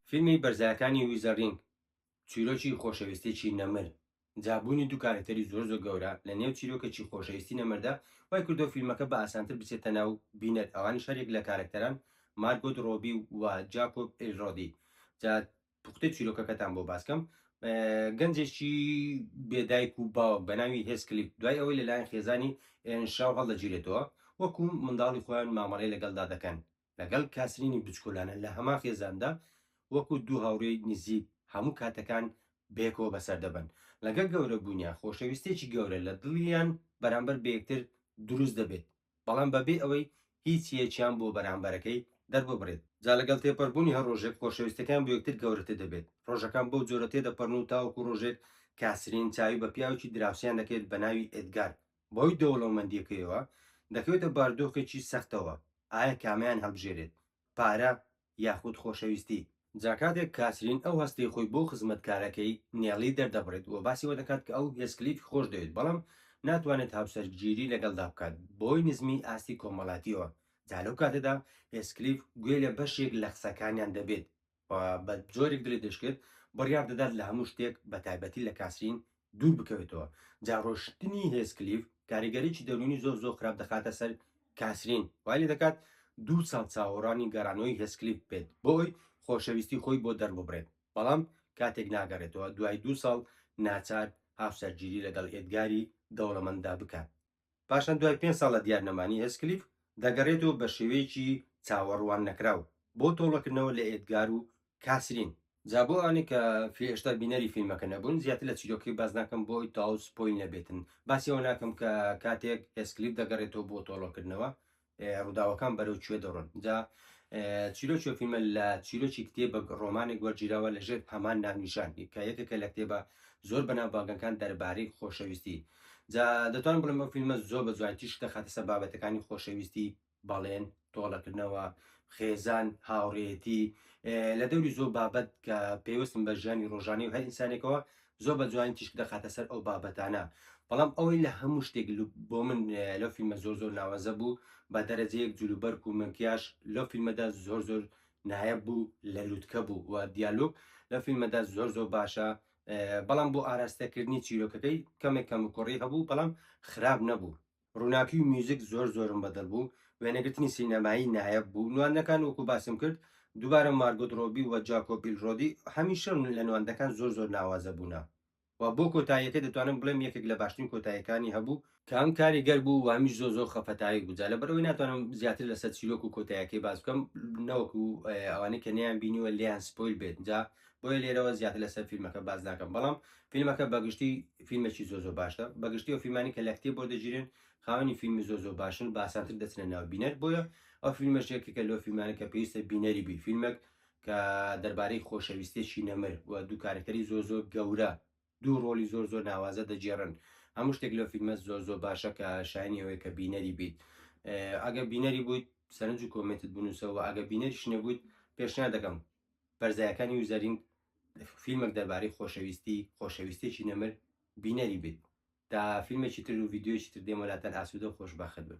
فیلمی بەرزایەکانی ویزە ڕینگ چیرۆکی خۆشەویستێکی نەمر، جا بوونی دوو کارەکتەری زۆر زۆر گەورە لە نێو چیرۆکێکی خۆشەویستی نەمردا وای کردووە فیلمەکە بە ئاسانتر بچێتە ناو بینەر ئەوانیش هەریەک لە کارەکتەران مارگۆت ڕۆبی و جاکۆب ئیلرۆدی جا پوختەی چیرۆکەکەتان بۆ باسکەم گەنجێکی بێدایک و باوک بە ناوی هێسکلیک دوای ئەوەی لەلایەن خێزانی ئێنشاو هەڵدەگیرێتەوە وەکو منداڵی خۆیان مامەڵەی لەگەڵدا دەکەن لەگەڵ کاسرینی بچکۆلانە لە هەمان خێزاندا وەکو دوو هاوڕێی نزیک هەموو کاتەکان بەیەکەوە بەسەر دەبن لەگەڵ گەورە بوونیان خۆشەویستێکی گەورە لە دڵیان بەرامبەر بەیەکتر دروست دەبێت بەڵام بە بێ ئەوەی هیچ یەکیان بۆ بەرامبەرەکەی دەرببڕێت. جا لەگەڵ تێپەربوونی هەر ڕۆژێک خۆشەویستیەکەیان بۆ یەکتر گەورەتر دەبێت، ڕۆژەکان بەو جۆرە تێدەپەرن و تاوەکو ڕۆژێک کاسرین چاوی بە پیاوێکی دراوسێیان دەکەوێت بە ناوی ئێدگار، بەهۆی دەوڵەومەندیەکەیەوە دەکەوێتە باردۆخێکی سەختەوە، ئایە کامەیان هەڵبژێرێت، پارە یاخود خۆشەویستی. جا کاتێک کاسرین ئەو هەستەی خۆی بۆ خزمەتکارەکەی، نێڵی، دەردەبڕێت و باسی ئەوە دەکات کە ئەو هێسکلیفی خۆشدەوێت بەڵام ناتوانێت هاوسەرگیری لەگەڵدا بکات بەهۆی نزمیی ئاستی کۆمەڵایەتییەوە، جا لەو کاتەدا هێسکلیف گوێ لە بەشێک لە قسەکانیان دەبێت و بە جۆرێک دڵی دەشکێت، بڕیار دەدات لە هەموو شتێک بەتایبەتی لە کاسرین دوور بکەوێتەوە جا ڕۆشتنی هێسکلیف کاریگەریی دەروونی زۆر زۆر خراپ دەخاتە سەر کاسرین وای لێ دەکات دوو ساڵ چاوەڕانی گەڕانەوەی هێسکلیف بێت بۆ ئەوی خۆشەویستی خۆی بۆ دەرببڕێت بەڵام کاتێک ناگەڕێتەوە دوای دوو ساڵ ناچار هاوسەرگیری لەگەڵ ئێدگاری دەوڵەمەنددا بکات. پاشان دوای پێنج ساڵ لە دیار نەمانی هێسکلیف، دەگەڕێتەوە بە شێوەیەکی چاوەڕوان نەکراو بۆ تۆڵەکردنەوە لە ئێدگار و کاسرین. جا بۆ ئەوانەی کە هێشتا بینەری فیلمەکە نەبوون، زیاتر لە چیرۆکەکەی باس ناکەم بۆ ئەوەی تەواو سپۆیل نەبێتن، باسی ئەوە ناکەم کە کاتێک هێسکلیف دەگەڕێتەوە بۆ تۆڵەکردنەوە، ڕووداوەکان بەرەو کوێ دەڕۆن؟ جا چیرۆکی و فیلمە لە چیرۆکی کتێبێک ڕۆمانێک وەرگیراوە لەژێر هەمان ناونیشان کە یەکێکە لە کتێبە زۆر بەناوبانگەکان دەربارەی خۆشەویستی جا دەتوانم بڵێم ئەو فیلمە زۆر بە جوانی تیشک دەخاتە سەر بابەتەکانی خۆشەویستی بەڵێن تۆڵەکردنەوە خێزان هاوڕێتی اه، لە دەوری زۆر بابەت کە پێوەستن بە ژیانی ڕۆژانەی و هەر ئینسانێکەوە زۆر بە جوانی تیشک دەخاتە سەر ئەو بابەتانە بەڵام ئەوەی لە هەموو شتێک لو- بۆ من اه، لەو فیلمە زۆر زۆر ناوازە بوو بە دەرەجەیەک جلوبەرک و مەکیاژ لەو فیلمەدا زۆر زۆر نایەب بوو لە لوتکە بوو و دیالۆگ لەو فیلمەدا زۆر زۆر باشە اه، بەڵام بۆ ئاراستەکردنی چیرۆکەکەی کەمێک کەم و کوڕی هەبوو بەڵام خراپ نەبوو ڕوناکی و میوزیک زۆر زۆرم بەدڵ بوو وێنەگرتنی سینەمایی نایەب بوو نواندنەکان وەکو باسم کرد دوبارە مارگۆت ڕۆبی و جاکۆبیل ڕۆدی هەمیشە لە نواندنەکان زۆر زۆر ناوازە بوونە و بۆ کۆتاییەکەی دەتوانم بڵێم یەکێک لە باشترین کۆتاییەکانی هەبوو کە هەم کاریگەر بوو و هەمیش زۆر زۆر خەفەتاوی بوو جا لەبەرئەوەی ناتوانم زیاتر لەسەر چیرۆک و کۆتاییەکەی باس بکەم نەوەکو ئەوانەی کە نەیانبینیوە لێیان سپۆیل بێت جا بۆیە لێرەوە زیاتر لەسەر فیلمەکە باس ناکەم بەڵام فیلمەکە بەگشتی فیلمێکی زۆ زۆ باشە بەگشتی و فیلمانی کە لە کتێب بۆ دەگیرێن خاوەنی فیلمی زۆ زۆ باشن باسانتر دەچنە ناو بینەر بۆیە ئەو فیلمەشێکی کە لۆ فیلمانی کە پێویستە بینەری بی فیلمێک کە دەربارەی خۆشەویستێکی نەمر و دوو کارکتەری زۆ زۆ گەورە دوو ڕۆلی زۆر زۆر ناوازە دەگێڕن هەموو شتێک لەو فیلمە زۆر زۆر باشە کە شایانی ئەوەیە کە بینەری بیت ئەگەر بینەری بوویت سەرنج و کۆمنتت بنووسەوە ئەگە بینەریش نەبوویت پێشنیار دەکەم بەرزایەکانی وزەرین فیلمێک دەربارەی خۆشەویستی خۆشەویستێکی نەمر بینەری بیت تا فیلمێکی تر و ڤیددیویی تر دێمەلاتەن ئاسوودە و خۆشببخت بن